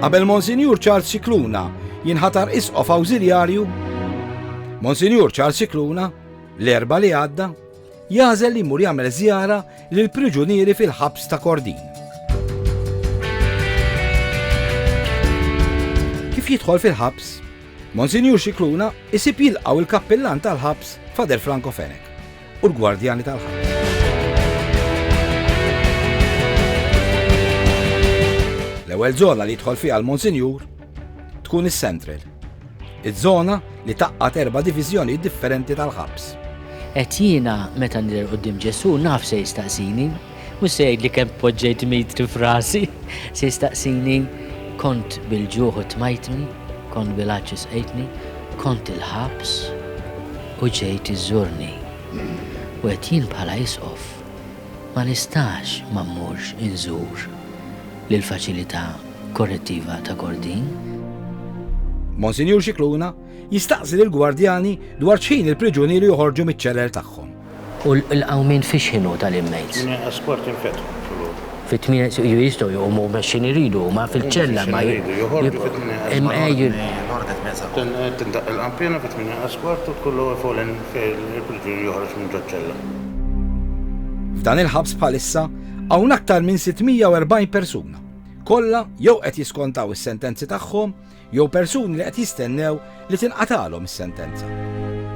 Qabel Monsinjur Charles Cicluna jinħatar isqof awżiljarju, Monsinjur Charles Cicluna, l-erba li għadda, jażel li mur jagħmel żjara lil priġunieri fil-ħabs ta' Kordin. Kif jidħol fil-ħabs, Monsinjur Xikluna isib jilqaw il-kappillan tal-ħabs Fader Franco Fenek. u l-gwardjani tal-ħajt. L-ewwel żona li jidħol fiha l-Monsinjur tkun is-Central, iż-żona li taqgħad erba' diviżjonijiet differenti tal-ħabs. Qed jiena meta nidher quddiem Ġesù naf se jistaqsini, Mhux se jgħidli kemm poġġejt mitri f'rasi, se jistaqsini kont bil-ġuħ u tmajtni, kont bil-għatx u sqejtni, kont il-ħabs u ġejt iżżurni. U qed jien bħala Isqof ma nistax ma mmurx inżur lill-Faċilità Korrettiva ta' Kordin. Monsinjur Scicluna jistaqsi lill-gwardjani dwar x'ħin il-priġunieri joħorġu miċ-ċeler tagħhom. U l-qawmien fiex kienu tal-inmates? Min inqas kwart jinfetħu filgħodu. Fit-tmien jistgħu jqumu mexxin iridu huma fil-ċella ma jibqgħu. Tindaqq il-qanpiena fit-tmien inqas kwart u tkun l-ewwel folen fejn il-priġunier joħroġ minn ġoċ-ċella. F'dan il-ħabs bħalissa hawn aktar minn 640 persuna, kollha jew qed jiskontaw is-sentenzi tagħhom, jew persuni li qed jistennew li tinqatagħlhom is-sentenza.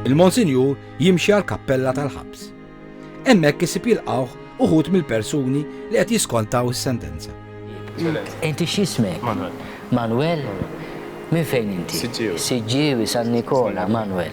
Il-Monsinjur jimxi għall-kappella tal-ħabs. Hemmhekk isib jilqgħuh uħud mill-persuni li qed jiskontaw is-sentenza. Inti x'ismek? Manuel. Manuel? Minn fejn inti? Siġġiewi. Siġġiewi San Nikola, Manuel.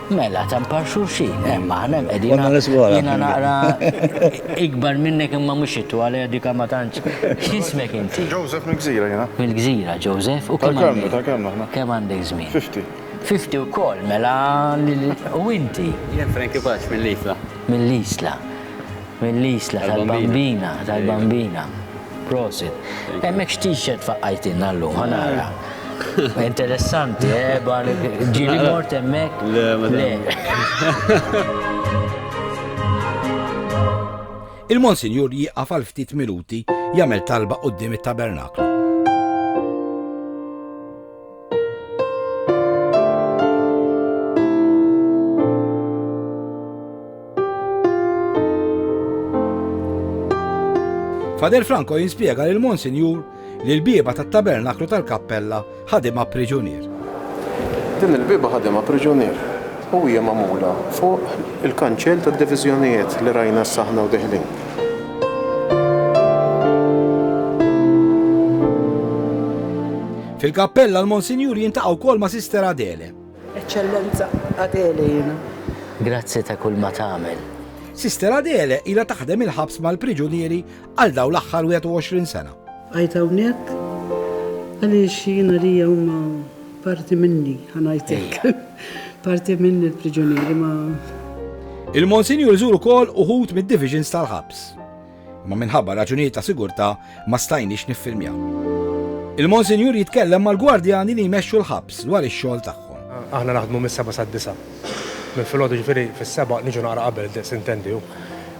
Mela, tempar xulxin, eh, ma ħanem edin. Għanna l-isgħora. Jina naqra ikbar minnek imma mux ittu għalija dika ma tanċ. Xismek inti? Joseph mill-gżira jina. Mill-gżira, Joseph, u kemm għandek? Ta' kemm aħna? Kemm għandek żmien? 50. 50 u kol, mela, u inti? Jien Frankie Paċ mill-Isla. Mill-Isla. Mill-Isla tal-Bambina, tal-Bambina. Prosit. Hemmhekk x'tixet faqqajtilna llum, ħa nara. Interessanti, eh, ġieli mort hemmhekk. Le, madam. Il-Monsinjur jieqaf għal ftit minuti jagħmel talba quddiem it-tabernaklu. Fader Franco jinspjega lil Monsinjur li l-bieba tat-tabernaklu tal-kappella ħadimha priġunier. Din il-bieba ħadimha priġunier u hija magħmula fuq il-kanċell tad-diviżjonijiet li rajna s-saħna u deħlin. Fil-kappella l-Monsinjur jintaqgħu wkoll ma' Sister Adele. Eċċellenza Adele jiena. Grazzi ta' kull ma tagħmel. Sister Adele ilha taħdem il-ħabs mal-priġunieri għal dawn l-aħħar 21 sena. Bqajt hawnhekk għaliex jien għalija huma parti minni, ħa ngħid hekk. Parti minni l-priġunieri ma. Il-Monsinjur iżur ukoll uħud mid-divisions tal-ħabs. imma minħabba raġunijiet ta' sigurtà ma stajniex niffilmjaw. Il-Monsinjur jitkellem mal-gwardjani li jmexxu l-ħabs dwar ix-xogħol tagħhom. Aħna naħdmu mis-sebgħa sad-disgħa. Minn filgħodu ġifieri fis-sebgħa niġu naqra qabel id-daqs intendi hu.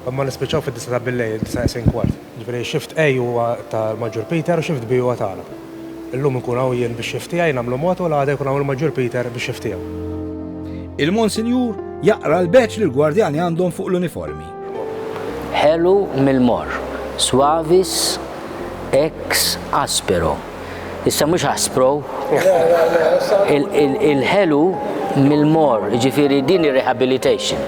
Imma nispiċċaw fid-disgħa ta' billejl, disgħa isegħin kwart. Ġifieri shift A huwa ta' Maġġur Peter u shift B huwa tagħna. Illum inkun hawn jien bix-xift tiegħi nagħmlu mod u l-għada jkun hawn il-Maġġur Peter bix-xift tiegħu. Il-Monsinjur jaqra l-badge li l-gwardjani għandhom fuq l-uniformi. Ħelu mill-morr, suavis ex aspero. Issa mhux aspro. Il-ħelu mill-morr, jiġifieri din ir-rehabilitation.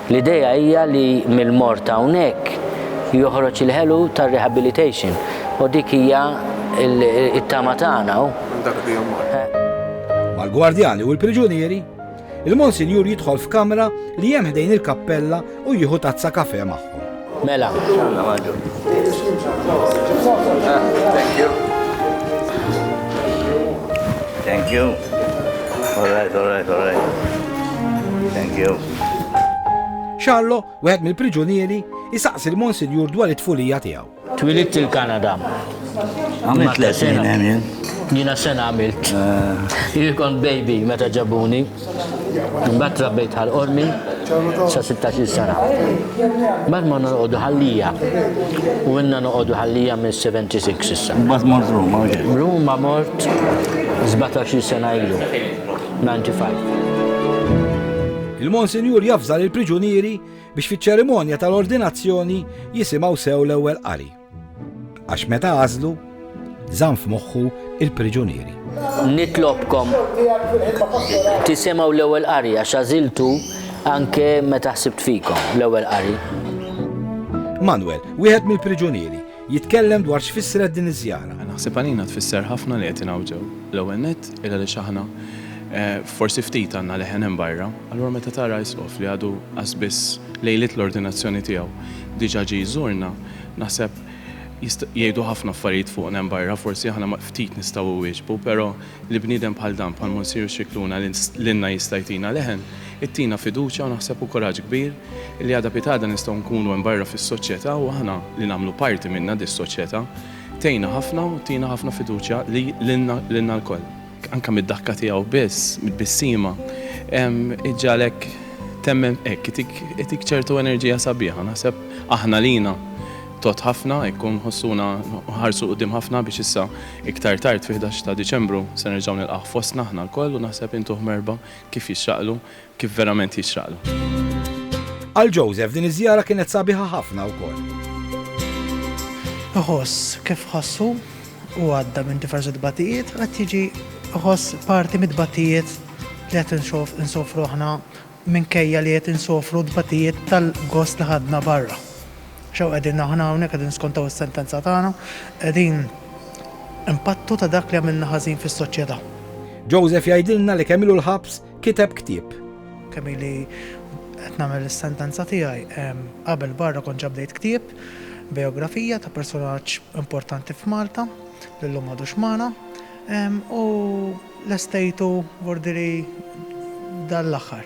L-idea hija li mill-mort hawnhekk joħroġ il-ħelu tar-rehabilitation u dik hija t-tama tagħna u. Mal-gwardjani u l-priġunieri, il-Monsinjur jidħol f'kamra li hemm ħdejn il-kappella u jieħu tazza kafè magħhom. Mela. Thank you. Thank you. All right, all right, all right. Thank you. Charlo, wieħed mill-priġunieri, isaqsi l-Monsinjur dwar it-tfulija tiegħu. Twilidt il-Kanada. Għamilt l-sena. Jina sena għamilt. Jikon eh. baby meta ġabuni. Imbagħad trabbejt għal qormi sa 16 sena. Mbagħad ma noqogħdu ħallija. U inna noqogħdu ħallija minn 76 issa. Mbagħad mort Ruma. Ruma mort 17 sena ilu. 95. Il-Monsinjur jafżal il-priġunieri biex fiċ-ċerimonja tal-ordinazzjoni jisimgħu sew l-ewwel qari. Għax meta għażlu, żamm f'moħħu il-priġunieri. Nitlobkom tisimgħu l-ewwel qari għax għażiltu anke meta ħsibt fikom l-ewwel qari. Manuel, wieħed mill-priġunieri, jitkellem dwar x'fissret din iż-żjara. Naħseb għalina tfisser ħafna li qed ingħawġew. L-ewwel nett illa li xaħna eh, forsi ftit għandna leħen hemm barra, allura meta tara isqof li għadu qasbis lejlit l-ordinazzjoni tiegħu diġà ġi jżurna, Naħseb jist, jgħidu ħafna affarijiet fuqna hemm barra, forsi aħna ma ftit nistgħu iwieġbu, però li bniedem bħal dan, bħal Monsinjur Scicluna li lilna jista' jtina leħen, ittina fiduċja u naħseb u kuraġġ kbir li għada pitgħada nistgħu nkunu hemm barra fis-soċjetà u aħna li nagħmlu parti minnha dis-soċjetà tgħinna ħafna u tina ħafna fiduċja li lilna lilna lkoll. anke mid-daħka tiegħu biss, mit-tbissima, iġġagħlek temmen hekk, itik ċertu enerġija sabiħa. Naħseb aħna lina tot ħafna, ikkun ħossuna ħarsu qudiem ħafna biex issa iktar tard fi 11 ta' Diċembru se nerġgħu nilqgħu fostna aħna lkoll u naħseb intuh merba kif jixraqlu kif verament jixraqlu. Għal Joseph din iż-żjara kienet sabiħa ħafna wkoll. Iħoss kif ħossu u għadda minn diversi tbatijiet qed jiġi iħoss parti mit-tbatijiet li qed insofru aħna minkejja li qed insofru tbatijiet tal-gost li ħadna barra. Xew qegħdin aħna hawnhekk qegħdin skontaw is-sentenza tagħna, qegħdin impattu ta' dak li għamilna ħażin fis-soċjetà. Joseph jgħidilna li kemm ilu l-ħabs Kiteb ktieb. Kemm ili qed nagħmel is-sentenza tiegħi. Qabel barra kont ġa bdejt ktieb, bijografija ta' persunaġġ importanti f'Malta li llum m'għadux magħna u lestejtu vordieri dan l-aħħar.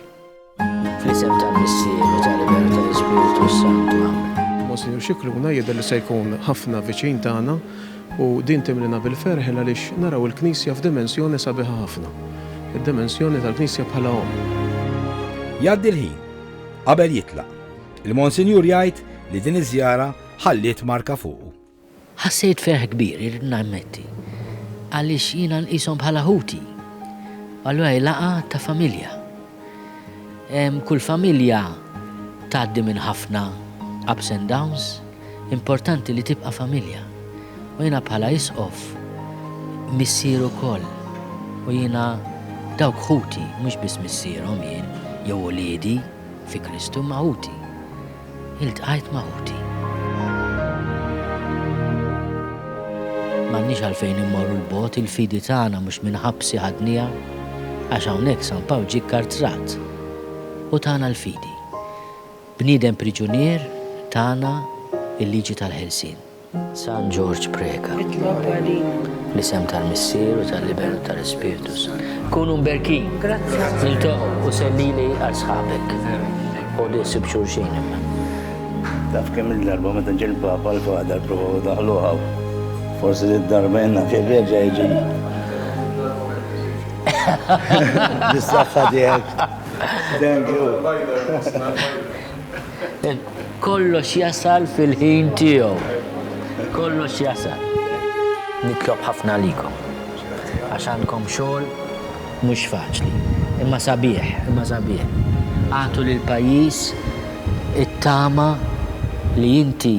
Fl-isem tal-Missier u tal-Iben u tal-Ispirtu s-Santu. Amen. Monsinjur Scicluna jidher li se jkun ħafna viċin tagħna U din timlina bil-ferħ għaliex naraw il-Knisja f'dimensjoni sabiħa ħafna, id-dimensjoni tal-Knisja bħala Omm. Jgħaddi l-ħin. Qabel jitlaq, il-Monsinjur jgħid li din iż-żjara ħalliet marka fuqu. Ħassejt ferħ kbir, irrid nammetti, għaliex jiena nqishom bħala ħuti. Allura hi laqgħa ta' familja. Kull familja tgħaddi minn ħafna ups and downs, importanti li tibqa' familja. U jiena bħala Isqof, missier ukoll, u jiena dawk ħuti, mhux biss missierhom jien, jew uliedi fi Kristu, imma ħuti. Iltqajt ma' ħuti. M'għandniex għalfejn immorru 'l bogħod, il-fidi tagħna mhux minn ħabsi ħadniha, għax hawnhekk San Pawl ġie kkartrat u tana l-fidi. Bniedem priġunier tana l-liġi tal-ħelsien. San Ġorġ Preca, Itlob għalina. Bl-isem tal-Missier u tal-Iben u tal-Ispirtu Sant. Kunu mberkin. Grazzi. Niltaqgħu u sellili għal sħabek. U li sib xulxin imma. Taf kemm il-darba meta ġie l-Papa l-Fader provaw daħluha. Forsi li d-darba jenna kif reġa' jiġi. Bis-saħħa tiegħek. Thank you. Kollox jasal fil-ħin tiegħu. Kollox jasal. Nitlob ħafna għalikom. Għax għandkom xogħol mhux faċli. Imma sabiħ, imma sabiħ. Agħtu lill-pajjiż it-tama li inti